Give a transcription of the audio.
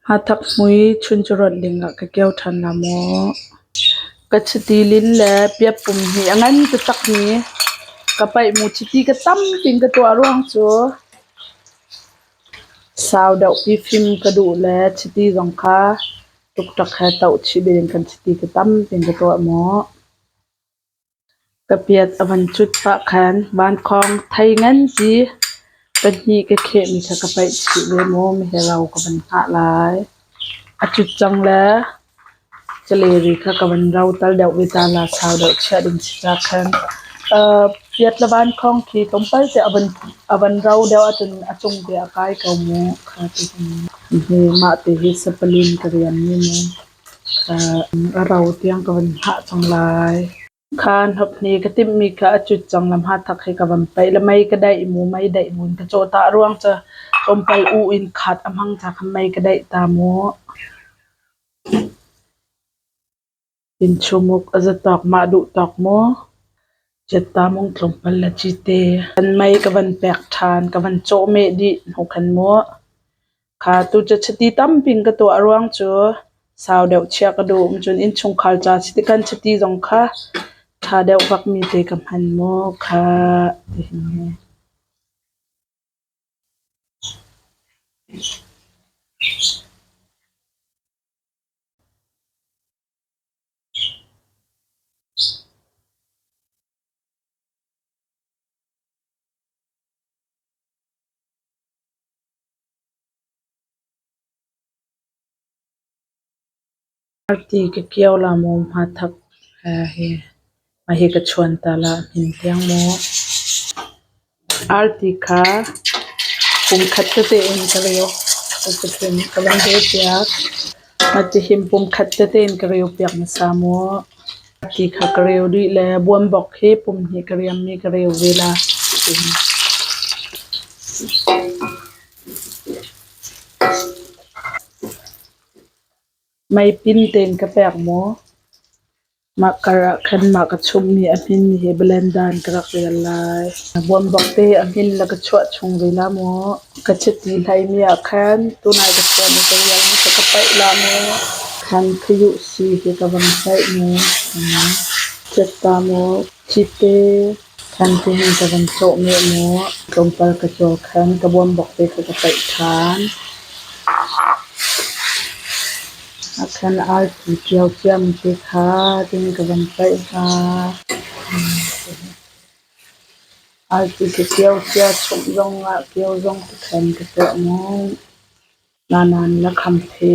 Hnathak hmui chuncurawt dingah ka kio ṭhan hnga maw? Ka chiti lin le piappum hi a ngan taktakmi ka paihmu chiti ka tampi in ka tuah ruang cu sau deuhpi fim ka duh le chiti zong kha tukṭak he toh chih dingin kan chiti tampi in ka tuah maw? Ka piat a van cut pah khan vankhawng thei ngan si pahnih ka khehmi kha ka paih chih ve maw miharo ka van hngah lai. A cut cang le caleri kha ka van rotal deuh ve ta la sau deuh chiah ding si ca khan. Aa piat le vankhawng khi tlawmpal te a van a van ro deuh ahcun a cung te a kai ko mu kha tihin. Hi mah ti hi sapali in ka rian mi maw. A ro tiang ka van hngah cang lai. Kha hnop hnih ka timhmi kha a cut cang le hmathak he ka van paih le mei ka daih mu, mei daih mu in ka cawhtah ruang cu tlawmpal u in khat a hmang ca kha mei ka daih ta mu. Innchumuk a za tawk mah duh tawk mu. Ciatta mung tlawmpal le cite. Kan mei ka van pek ṭhan, ka van cawhmeh dih hnukhan mu. Kha tu cu chiti tampi in ka tuah ruang cu sau deuh chiah ka duh um cun innchungkhar ca si ti khan chiti zong kha ṭha deuh fakmi te ka hman maw kha tihin hi. Party ka kio la maw hmathak he hi mahi ka chuan ta la hmin tiang maw. Arti kha kum khat tete in ka reu. Cuticun ka van reu piak. Cihim pumkhat tete ka reu piak hmasa maw? A ti kha ka reu dih le buanbok hi pum hnih ka riammi ka reu ve la tiin. Mei pin tein ka pek maw? Mah kar ah khan mah ka chumhmi a hmin hi Blendan ka rak rel lai. Buanbak te a hmin na ka chuah chung ve la maw? Ka chiti hlaimi ah khan tunai ka chuan i ka rial na kha ka paih la maw? Khan khayu si hi ka van paih maw? Cetta maw? Cipe Santihin ka van cawh meh maw, tlawmpal ka cawl khan ka bawm bawk te kha ka paih ṭhan. A khan arfi ṭio ciam te kha tihin ka van paih hna. Arfi ka ṭio cia chumh zongah kio zong ka khan ka tuah ngawt. Nanan na kham te.